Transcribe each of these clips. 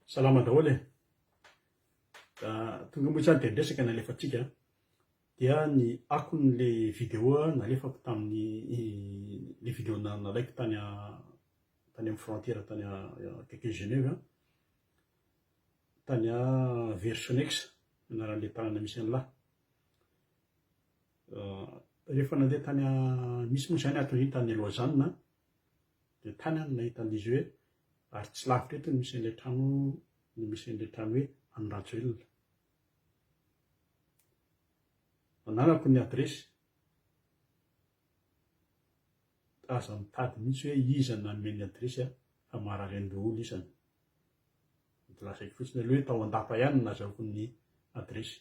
Salama daholo e. Tonga moa izany dia ny resaka nalefantsika dia ny akon'le vidéo nalefako tamin'ny le vidéo nalaiko tany tany amin'ny frontière tany akaiky Genève tany Versonex anaran'le tanana misy an'la rehefa nandeha tany misy moa izany ato tany Lausanne dia tany aho no nahita an'izy hoe ary tsy lavitra eto no misy an'ilay trano no misy an'ilay trano hoe an'i Rajoelina. Ananako ny adiresy. Aza mitady mihitsy hoe iza no nanome ny adiresy fa marary an-doholona isany. Dia lazaiko fotsiny aloha hoe tao Andapa ihany no nazahoako ny adiresy.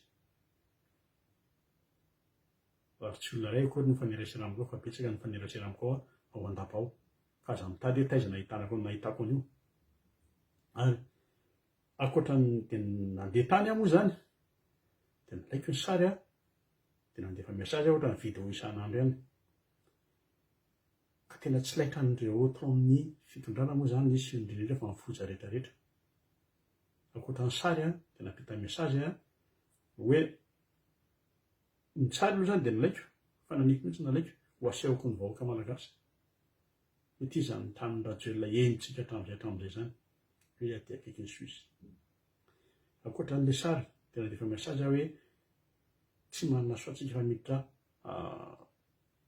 Ary tsy olona iray akory no mifanerasera amiko ao fa betsaka ny mifanerasera amiko ao ao an-dapa ao. Ka aza mitady hoe taiza no ahitanako an'io nahitako an'io. Ary ankoatra ny dia nandeha tany aho moa izany dia nalaiko ny sary aho dia nandefa message aho ohatran'ny vidéo isan'andro ihany. Ka tena tsy laitran'ireo ato amin'ny fitondrana moa izany izy sy indrindra indrindra fa ny foza rehetra rehetra. Ankoatra ny sary dia nampita message hoe Ny tsara aloha izany dia nilaiko, fanamiko mihitsy nalaiko, ho asehoko ny vahoaka malagasy hoe ity izany tanin-dRajoelina henontsika hatramin'izay hatramin'izay izany, hoe aty akaiky ny Suisse. Ankoatra an'ilay sary dia nandefa message aho hoe tsy manana choix tsika fa miditra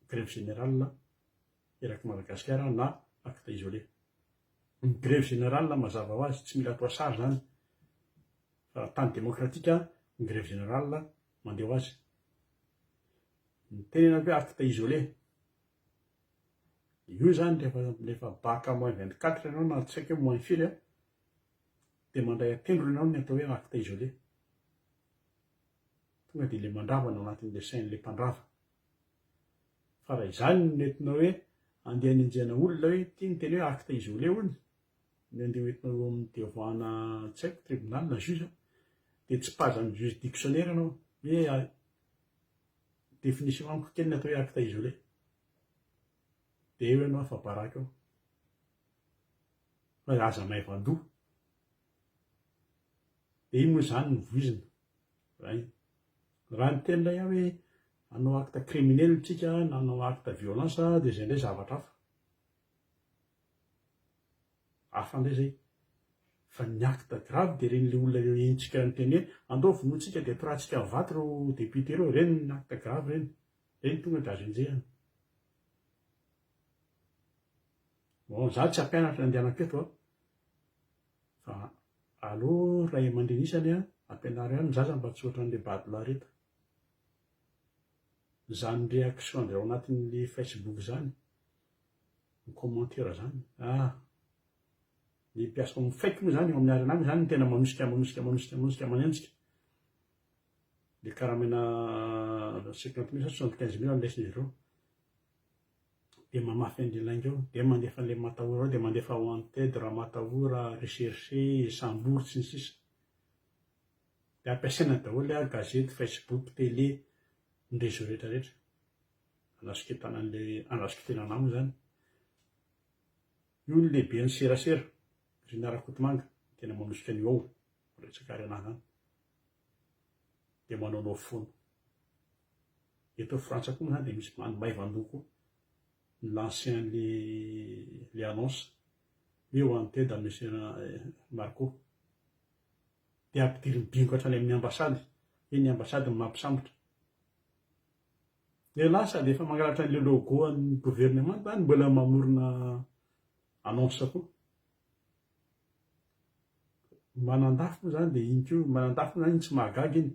grève générale eraky Madagasikara na acte isolé. Ny grève générale mazava ho azy tsy mila atao sary izany fa raha tany démocratique ny grève générale Mandeh ho azy. Ny tenenako hoe acte isolé. Io zany rehefa rehefa baka moins vingt quatre ianao na tsy haiko hoe moins firy an, dia mandray an-tendrony ianao ny atao hoe acte isolé. Tonga dia ilay mandrava no anatin'ilay sain'ilay mpandrava. Fa raha izany no nentinao hoe andeha hanenjehana olona hoe ity ny teny hoe acte isolé hono, ny andiany entina eo amin'ny diavoana tsy haiko tribunal na juge an, dia tsipazan'ny juge dictionnaire ianao hoe a définition amiko kely ny atao hoe acte isolé, dia eo ianao efa baraka eo, fa aza maivan-doha, dia iny moa izany no voizina, raha iny, raha ny tenin'ilay ahy hoe hanao acte criminel isika na hanao acte violence dia izay indray zavatra hafa. Hafa ndray zay. Fa ny acte grave dia ireny le olona enjika niteny hoe andao vonointsika dia mpiratsika vato ireo députés ireo, ireny no acte grave ireny. Ireny tonga dia azo enjehina. Bon za tsy hampianatra ny andianako eto an. Fa aleo ray aman-dreny isany an, ampianaro ihany ny zaza mba tsy ohatran'ilay bado lahareta. Izany réaction ndry ao anatin'ilay facebook izany ny commentaire zany ah ny mpiasa ao amin'ny faiky moa zany eo amin'ny arena any zany no tena manosika manosika manosika manosika manenjika dia karamena cinquante mille sa soixante quinze mille no leson'izy ireo dia mamafy an'ilay lainga eo dia mandefa an'ilay matahora ao dia mandefa wanted ramatahora recherché sambory sy ny sisa dia ampiasaina daholo ary gazety facebook télé ny réseau rehetra rehetra Andrasoketana an'ilay andrasoko tena anaminy izany. Io ny lehiben'ny serasera, Rina Rakotomanga, tena manosika an'io ao, resaka ary anah izany. Dia manaonao foana. Eto Frantsa koa moa izany dia misy any Maivandoha koa, ni-lancer an'ilay annonce, hoe wanted an'i Monsieur Marco. Dia ampidirin'ny bingo hatrany amin'ny ambassade, hoe ny ambassade no mampisambotra. Dia lasa dia efa mangalatra an'ilay logo an'ny governemanta any mbola mamorona annonce koa. Manandafy moa izany dia iny koa, manandafy moa izany iny tsy mahagaga iny,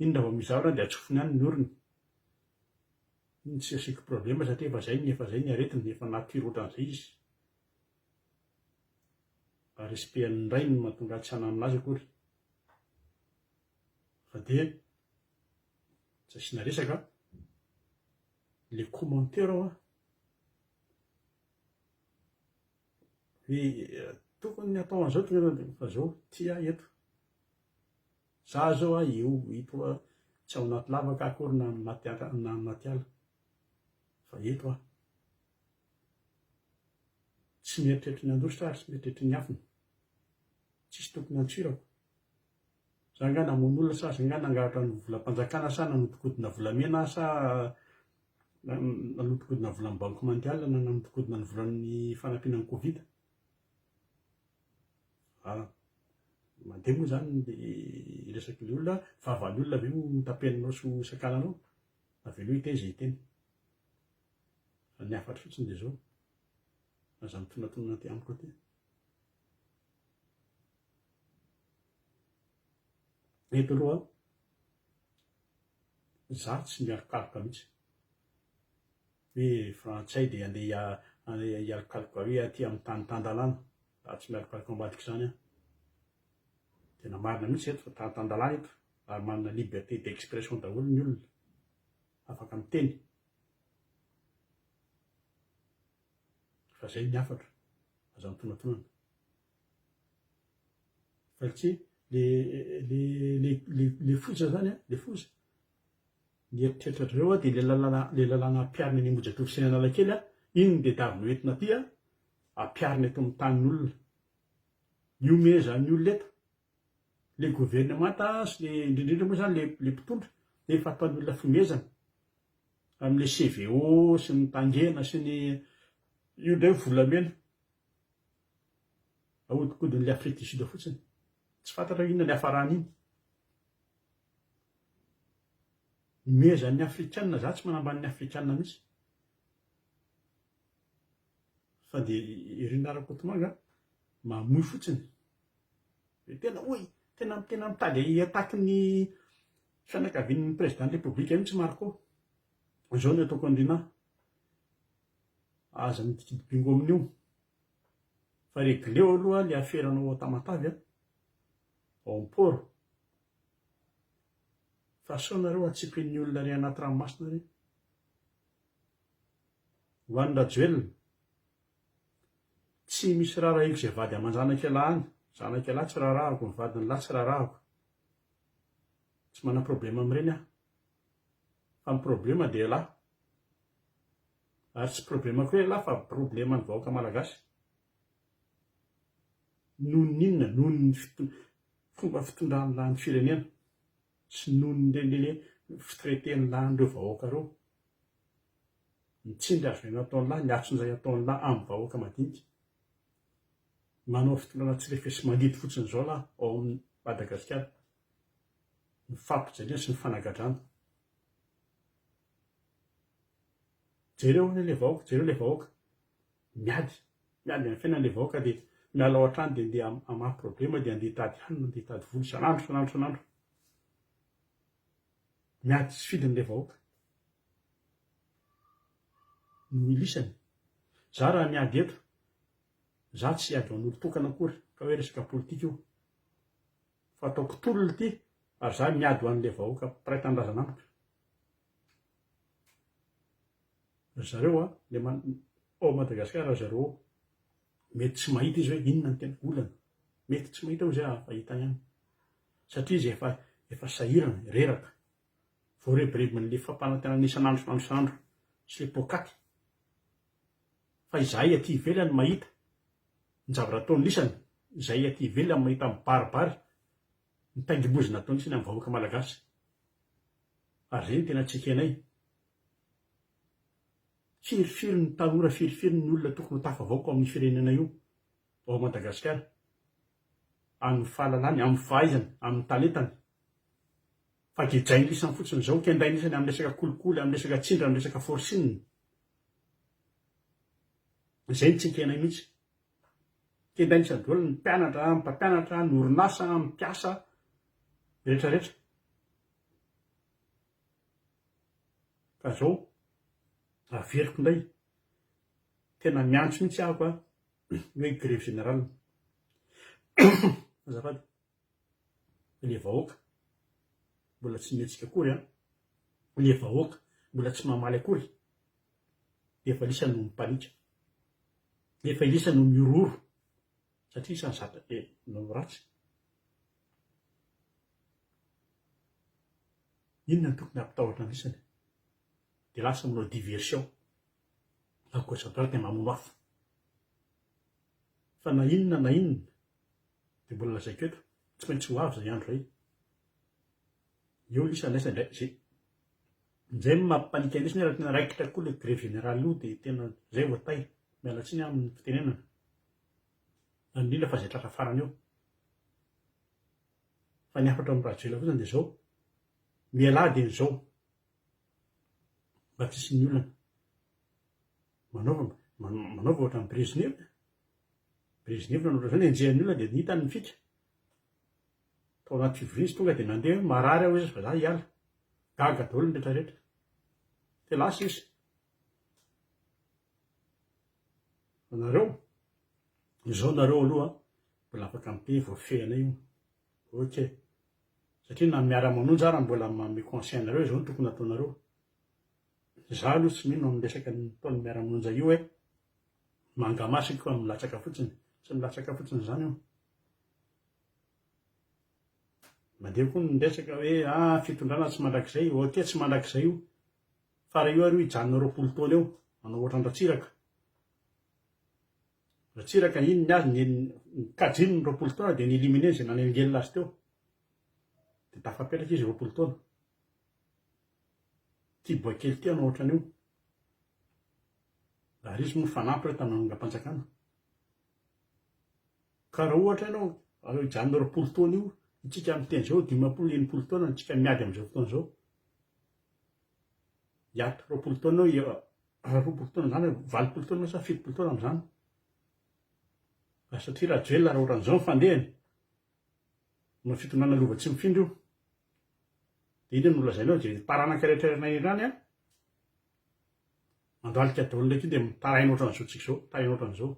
iny raha vao misy zavatra dia atsofony any ny orony. Iny tsy asiako problème satria efa izay ny efa izay ny aretiny, efa nature ohatran'izay izy. Mba respect an'ny rainy no mahatonga ahy tsy hananona azy akory. Fa dia Tsy asiana resaka an! Ilay commentaire ao an! Hoe tokony ny atao an'izao tena fa izao ity ahy eto. Za izao aho eo eto aho tsy ao anaty lavaka aho akory na anaty ala na anaty ala fa eto aho. Tsy mieritreritra ny handositra aho ary tsy mieritreritra ny hafina. Tsisy tokony hantsirako. Za nga namono olona sa za nga nangalatra ny volam-panjakana sa nanodikodina volamena aho sa nanodikodina ny volan'ny banque mondiale na nanodikodina ny volan'ny fanampiana ny covid? An! mandeha moa zany ny resak'ilay olona, fahavalon'ny olona ve no tapenanao sy ho sakananao? Avelao hiteny izay hiteny. Fa ny hafatra fotsiny dia izao, aza mitonantonana aty amiko aty. Eto aloha izaho tsy mialokaloka mihitsy hoe frantsay dia handeha hialokaloka hoe aty amin'ny tany tan-dalàna, izaho tsy mialokaloka ambadika izany an! Tena marina mihitsy ireto fa tany tan-dalàna eto ary manana liberté d'expression daholo ny olona, afaka miteny, fa izay ny hafatra, aza mitonantonana. Valce, le le le le le foza zany an, le foza. Ny eritreritra dry zareo dia le lalana le lalana ampiharina any Ambohijatovo sy any Analakely an, iny no tedavy noentina aty an, ampiharina eto amin'ny tanin'olona. Mihomehy izany olona eto. Le governemanta sy le indrindra indrindra moa izany le mpitondra dia efa ataony olona fihomezana amin'ilay CVO sy ny tangena sy ny io indray volamena. Ahodikodin'ilay Afrique du Sud fotsiny. Tsy fantatra hoe inona ny hafaran'iny. Nomehezan'ny Afrikana, za tsy manambany ny Afrikana mihitsy. Fa dia i Rina Rakotomanga mamoy fotsiny. Dia tena oy, tena tena mitady hi-attaque ny fianakavian'ny président de la République mihitsy Marco. Izao no ataoko an'i Rina, aza midikidy bingo amin'io. Fa regleo aloha le aferanao ao Tamatave a, ao am port. Fa sao nareo hatsipin'ny olona re anaty ranomasina re. Ho an'i Rajoelina, tsy misy raharahiako izay vady aman-janak'ialahy any, zanak'ialahy tsy raharahako, ny vadin'ny lahy tsy raharahako. Tsy manam-problema amin'ireny aho. Fa ny problema dia ialahy. Ary tsy problemako ialahy fa probleman'ny vahoaka malagasy. Noho ny inona? Noho ny fomba fitondran'ny lahin'ny firenena sy noho ny ireny fitraiten'ny lahin'ireo vahoaka ireo. Ny tsindry azo aina ataon'ny lahy, ny atsonjay ataon'ny lahy amin'ny vahoaka madinika. Manao fitondrana tsy refesi mangidy fotsiny izao lahy ao amin'ny Madagasikara. Ny fampijaliana sy ny fanagadrana. Jereo anie le vahoaka, jereo le vahoaka miady, miady amin'ny fiainany le vahoaka dia miala ao an-trano dia andeha hamaha problema dia andeha hitady hanina, andeha hitady vola isan'andro, isan'andro, isan'andro. Miady tsy fidiny le vahoaka. No ilisany. Za raha miady eto, za tsy hiady ho an'olo-tokana akory, ka hoe resaka politika io. Fa ataoko tolona ity ary za miady ho an'ilay vahoaka mpiray tanindrazana amiko. Ry zareo a, le man, ao Madagascar ry zareo ao, mety tsy mahita izy hoe inona ny tena olana. Mety tsy mahita hoy izay aho fa hitany any. Satria izy efa, efa sahirana, reraka. Voarebirebin'ilay fampanantenana isan'andro isan'andro sy ilay poakaty. fa izahay aty ivelany mahita ny zavatra ataony lisany izahay aty ivelany mahita mibaribary ny taingim-bozona ataony lisany amin'ny vahoaka malagasy ary izay no tena tsy ekenay firifiry ny tanora firifiry ny olona tokony ho tafavaoka ao amin'ny firenena io ao Madagasikara amin'ny fahalalany amin'ny fahaizany amin'ny talentany fa gejainy lisany fotsiny izao kendainy lisany amin'ny resaka kolikoly amin'ny resaka tsindra amin'ny resaka forcing Izay no tsy ekenay mihitsy. Tenda ny sadol, ny mpianatra, ny mpampianatra, ny orinasa, ny mpiasa rehetra rehetra. Ka zao, averiko indray, tena miantso mihitsy ahako a, ny hoe grève générale. Azafady. le vahoaka mbola tsy mihetsika akory an! le vahoaka mbola tsy mamaly akory, efa lisa no mipanika, efa lisa no mihorohoro satria isan'ny zatra be no ratsy, inona no tokony hampitahotra ny isany? dia lasa manao diversion à gauche à droite mamono afo. Fa na inona na inona, dia mbola lazaiko eto, tsy maintsy ho avy izay andro izay. Eo lisa andraisana indray izay. Izay no maha panique lisa nefa raha tena raikitra koa ilay grevy générale io dia tena izay vao tay. Miala tsiny aho amin'ny fitenenana. Any indrindra fa izay tratra farany eo. Fa ny hafatra ao amin'ny Rajoelina fotsiny dia izao, mialà dieny izao. Mba tsisy ny olana. Manaova manaova ohatran'i Brezhnev. Brezhnev nanao ohatran'izany, enjehan'ny olona dia nitany ny fika. Tao anaty fivoriana izy tonga dia nandeha hoe marary aho izy fa za hiala. Gaga daholo ny rehetra rehetra. Dia lasa izy. Fa nareo, izao nareo aloha mbola afaka mipey, voafehana io. Ok. Satria na miara manonja ara mbola manome conseil anareo izao no tokony ataonareo. Za aloha tsy mino amin'ny resaka nataon'ny miara manonja io hoe manga maso io ka milatsaka fotsiny. Tsy milatsaka fotsiny izany io. Mandeha koa ny resaka hoe ah fitondrana tsy mandrakizay. Ok tsy mandrakizay io. Fa raha io ary hijanona roapolo taona eo manao ohatran'i Ratsiraka. Ratsiraka iny ny azy ny kajiny ny roapolo taona dia ni-éliminer izay nanelingelina azy teo. Dia tafapetraka izy roapolo taona. Ity boay kely ity hanao ohatran'io. Ary izy moa nifanampy ireo tamin'ny manongam-panjakana. Ka raha ohatra ianao, avy eo janona roapolo taona io, itsika miteny izao dimampolo, enimpolo taona, itsika miady amin'izao fotoana izao. hiato roapolo taona eo a, roapolo taona izany a, valopolo taona sa fitopolo taona amin'izany, raha satria Rajoelina raha oran'izao ny fandehany, manao fitondrana lova tsy mifindra io, dia inona no lazainao dia ny taranaka rehetra any anivon'any a, mandohalika daholo ndraiky io dia mitaraina ohatran'izao tsika izao, mitaraina ohatran'izao,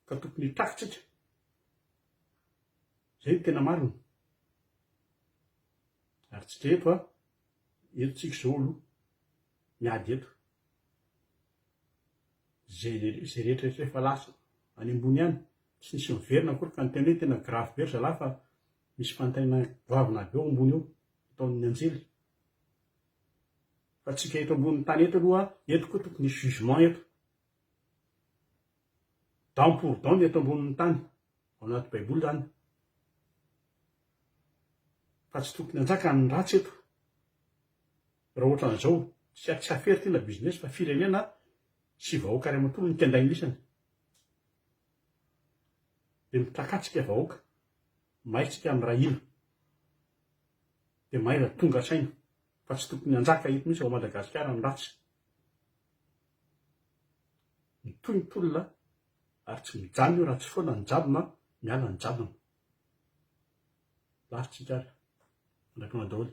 ka tokony hitraka tsika. Izay no tena marina. Ary tsy dra eto a, eto tsika izao aloha miady eto. Izay izay rehetra rehetra efa lasa any ambony any, tsy nisy miverina akory ka ny tena hoe tena grave be ry zalahy fa misy fanontaniana goavana be ao ambony ao ataon'ny anjely. Fa tsika eto ambony tany eto aloha, eto koa tokony hisy jugement eto. Dent pour dent ny eto ambonin'ny tany, ao anaty baiboly izany, fa tsy tokony hanjaka ny ratsy eto, raha ohatran'izao, tsy tsy affaire ity na business fa firenena sy vahoaka iray manontolo no kendain'isany, dia mitrakatsika vahoaka, may tsika mirahina, dia may raha tonga saina. Fa tsy tokony hanjaka eto mihitsy ao Madagasikara ny ratsy. Mitohy ny tolona ary tsy mijanona io raha tsy foana ny jadona, miala ny jadona. Lafo tsika ary. Mandrapionona daholo.